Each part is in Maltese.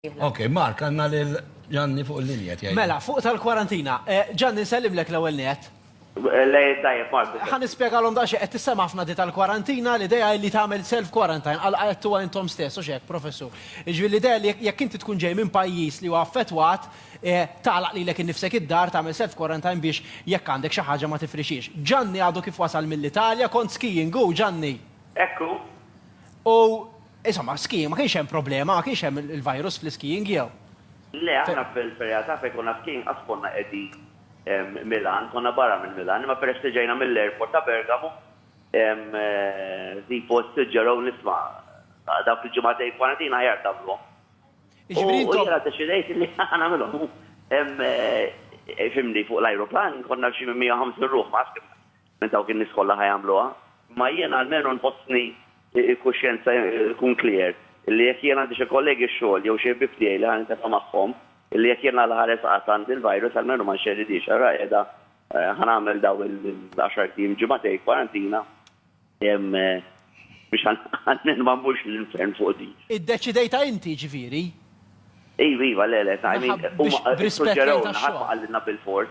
Ok, Mark, għanna lil Ġanni fuq il-linja tiegħi. Mela, fuq tal-kwarantina. Eh, Ġanni, nsellimlek l-ewwel net. Le, tajjeb, Mark. Ħa nispjegalhom daqsxejn qed tissem' ħafna di tal-kwarantina, l-idea hi li tagħmel self-quarantine, għal qegħdtuha intom stess, hux hekk, Professur? Jiġifieri l-idea li jekk inti tkun ġej minn pajjiż li huwa affettwat, eh, tagħlaq lilek innifsek id-dar, tagħmel self-quarantine biex jekk għandek xi ħaġa ma tifrixhiex. Ġanni għadu kif wasal mill-Italja, kont skiing hu, Ġanni? Hekk hu. U Insomma, skiing, ma kienx hemm problema, ma kienx hemm il-virus fl-iskiing jew? Le, aħna fil-realtà fejn konna skiing qatt konna qegħdin Milan, konna barra minn Milan, imma peress li ġejna mill-airport ta' Bergamo, Zipo ssuġġerow li isma' dawk il-ġimagħtejn kwarantina aħjar tagħmluhom. U jiena ddeċidejt li nagħmilhom. Fhimni, fuq l-ajruplan konna xi minn 150 ruħ, ma nafx kemm minn dawk in-nies kollha ħa jagħmluha. Imma jiena almenu nħossni l-kuxjenza jkun clear illi jekk jien għandi xi kollegi xogħol jew xi ħbieb tiegħi li ħa nintefgħa magħhom illi jekk jien għal ħares qatt għandi l-virus almenu ma nxerridhiex ara qiegħda ħa nagħmel dawn il-għaxart ijiem, ġimagħtejn kwarantina biex almenu ma mmurx l-infern fuq din. Iddeċidejtha inti jiġifieri? Iva, iva, le, le, I mean huma ssuġġerewlna ħadd ma qallilna bil-fors.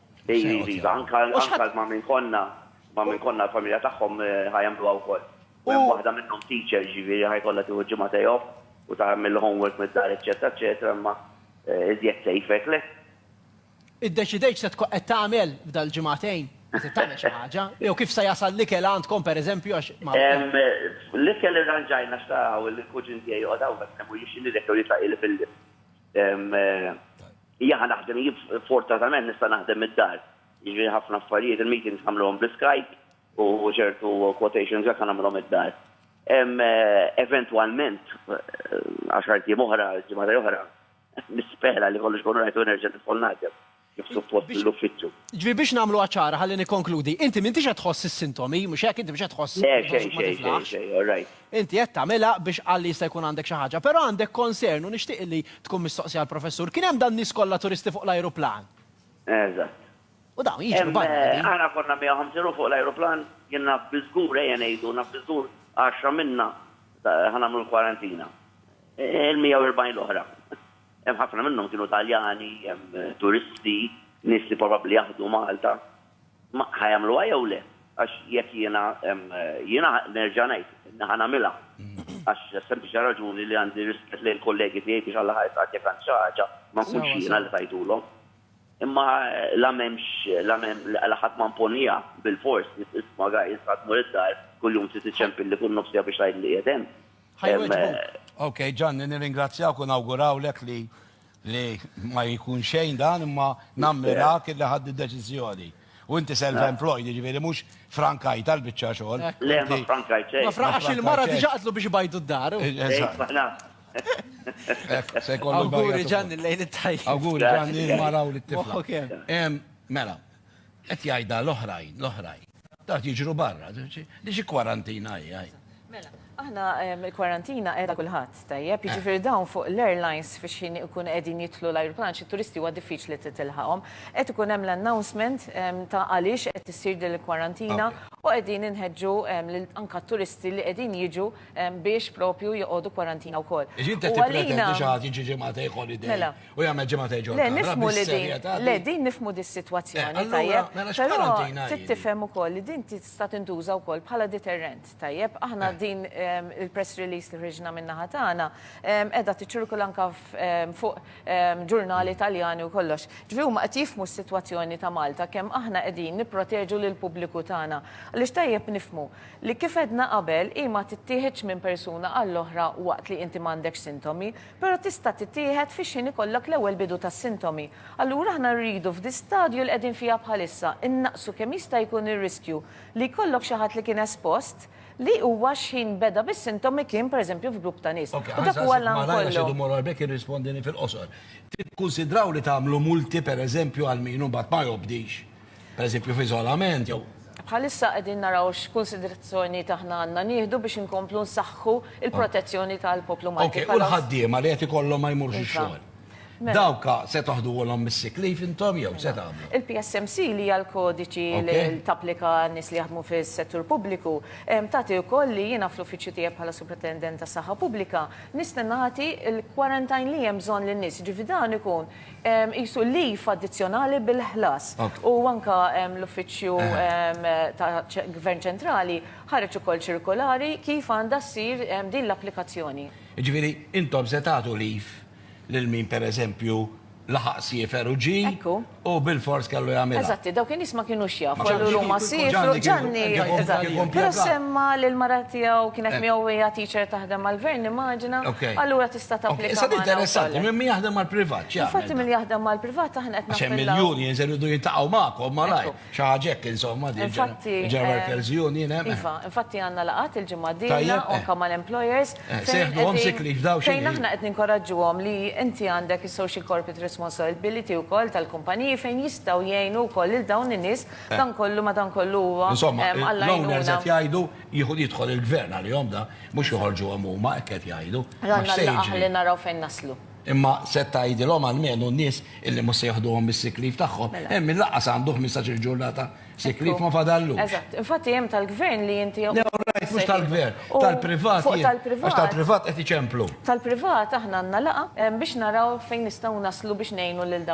Iva, iva, anke ma' min konna, ma' min konna l-familja tagħhom ħa jagħmluha wkoll. U hemm waħda minnhom teacher, jiġifieri ħa jkollha tieħu ġimgħa day off u tagħmel il-homework mid-dar eċċetera eċċetera imma iżjed safe hekk le? Iddeċidejt x'se tkun qed tagħmel f'dal-ġimgħatejn? Se tagħmel xi ħaġa? Jew kif se jasal l-ikel għandkom pereżempju għax ma. L-ikel irranġajna għax tara hawn il-kuġin tiegħi joqgħod hawn b'hekk ma jmurlix xi nidek jew jitlaq jilgħab il-lift. Jien naħdem jien fortatament nista' naħdem mid-dar. Jiġifieri ħafna affarijiet il-meetings nagħmluhom bl-Skype u ċertu quotations hekk nagħmilhom id-dar. Eventwalment għaxart ijiem oħra, ġimagħtej oħra, nispera li kollox ikun all right u nerġa' nidħol naħdem kif suppost mill-uffiċċju. Ġifieri biex nagħmluha ċara ħalli nikkonkludi, inti m'intix qed tħoss is-sintomi, mhux hekk? Inti mhux qed tħoss. Le xejn xejn xejn xejn, all right. Inti qed tagħmilha biex qalli jista' jkun għandek xi ħaġa, però għandek concern u nixtieq illi tkun mistoqsija l-Professur. Kien hemm dan nies kollha turisti fuq l-ajruplan? Eżatt. U dawn jiġru barra minn din. Aħna konna 150 ruħ fuq l-ajruplan, jien naf biżgur, ejja ngħidu, naf biżgur għaxra minna ħa nagħmlu l-kwarantina. Il-140 l-oħra, hemm ħafna minnhom kienu Taljani, hemm turisti, nies li probabbli jaħdmu Malta. Ma ħa jagħmluha jew le? Għax jekk jiena, jiena nerġa' ngħid, ħa nagħmilha. Għax sempliċi raġuni li għandi rispett lejn il-kollegi tiegħi biex Alla ħa jisqalni jekk għandi xi ħaġa, ma nkunx jiena li tajthulhom. Imma la m'hemmx, la m'hemm, la ħadd ma mponiha bilfors, isma' guys, ħa tmur id-dar, kuljum trid iċċempilli kull nofs siegħa biex tgħidli qiegħed hemm. Ħa jwieġbu. Okej, Ġanni, nirringrazzjawk u nawgurawlek li Li ma jkun xejn dan imma nammirak illi ħadd id-deċiżjoni. U inti self-employed, jiġifieri mhux frankajt għal biċċa xogħol. Le, ma frankajt xejn. Ma frankajt xejn. Il-mara diġà qatlu biex ibajdu d-dar. Awguri Ġanni, lejl it-tajjeb. Awguri Ġanni, l-mara u lit-tifla. Mela, qed jgħidha l-oħrajn, l-oħrajn. Dawk jiġru barra, li xi kwarantina hi għaj. Mela, aħna il-kwarantina qiegħda kulħadd, tajjeb, eh. jiġifieri dawn fuq l-airlines fiex ħin ikun qegħdin jitlu l-ajruplan xi turisti huwa diffiċli titilħaqhom. Qed ikun hemm l-announcement ta' għaliex qed issir din il-kwarantina u qegħdin inħeġġu anka turisti li qegħdin jiġu biex propju joqogħdu kwarantina wkoll. Iġi inti tippretendi xi ħadd jiġi ġimgħa holiday. Mela. U jagħmel ġimgħa ta' ġol. Le nifmu li din, le din nifmu di situazzjoni eh, tajjeb. Mela però tittifhem ukoll li din tista' tintuża wkoll bħala deterrent tajjeb. Aħna eh. din ehm, il-press release li ħriġna minna ħatana ehm, qiegħda tiċċirkula anka ehm, fuq ġurnali mm. Taljani u kollox. Ġifi huma qed jifmu s-sitwazzjoni ta' Malta kemm aħna qegħdin nipproteġu lil pubbliku tagħna. Għaliex tajjeb nifmu li kif edna qabel hi ma tittieħedx minn persuna għall-oħra waqt li inti m'għandekx sintomi, Però tista' tittieħed fix-xhien ikollok l-ewwel bidu tas-sintomi. Allura aħna rridu f'dis-stadju li qegħdin fiha bħalissa innaqqsu kemm jista' jkun ir-riskju li jkollok xi ħadd li kien espost li huwa x'ħin beda bis-sintomi kien pereżempju f'grupp ta' nies. U dak huwa l-għan kollu. Tikkunsidraw li tagħmlu multi pereżempju għal min imbagħad ma jobdix? pereżempju f'iżolament jew. Bħalissa qegħdin naraw x'kunsiderazzjonijiet aħna għandna nieħdu biex inkomplu nsaħħu l-protezzjoni tal-poplu Malti bħala. U l-ħaddiema li qed ikollhom ma jmurux ix-xogħol. Dawk se toħduhulhom mis-sick leave intom jew se tagħmlu? Il-PSMC li hija l-kodiċi li tapplika għan-nies li jaħdmu fis-settur pubbliku tagħti wkoll li jiena fl-uffiċċju tiegħi bħala Superintendent tas-Saħħa Pubblika nista' nagħti l-quarantine li hemm bżonn lin-nies, jiġifieri dan ikun qisu leave addizzjonali bil-ħlas. U anke l-Uffiċċju ta' Gvern Ċentrali ħareġ ukoll ċirkolari kif għandha ssir din l-applikazzjoni. Jiġifieri, intom se tagħtu leave lil min pereżempju laħaq siefer u ġie u bilfors kellu jagħmilha? Eżatti, dawk in-nies ma kinux jafu, allura huma siefru, Ġanni, eżatt, però semma li l-mara tiegħu kienet miegħu u hija teacher taħdem mal-Gvern, nimmaġina, allura, tista' tapplika. Issa interessanti, minn min jaħdem mal-privat, ċi Infatti minn jaħdem mal-privat aħna qed Għax hemm il-unions iridu jintaqgħu magħkom malaj, xi ħaġa hekk insomma din ġenerali workers union hemm. Iva, infatti għandna laqgħat il-ġimgħa d-dieħla anke mal-employers. Seħduhom sick leave daw xi. Fejn aħna qed ninkoraġġuhom li inti għandek is-social corporate responsibility wkoll tal-kumpaniji fejn jistgħu jgħinu wkoll lil dawn in-nies dan kollu madankollu huwa. Insomma, l-owners qed jgħidu Jieħu jidħol il-gvern għalihom da, mhux joħorġuhom huma hekk qed jgħidu. Ranna l-laqgħa li naraw fejn naslu. Imma se tgħidilhom għalmenu n-nies illi mhux se jieħduhom mis-sick leave tagħhom. Mela. Hemm min laqqas għandu 15-il ġurnata sick leave ma fadallux. Eżatt. Infatti hemm tal-gvern li inti Le, all right, mhux tal-gvern, tal-privat. Fuq tal-privat. Għax tal-privat qed iċemplu. Tal-privat aħna għandna laqgħa biex naraw fejn nistgħu naslu biex ngħinu lil dawn.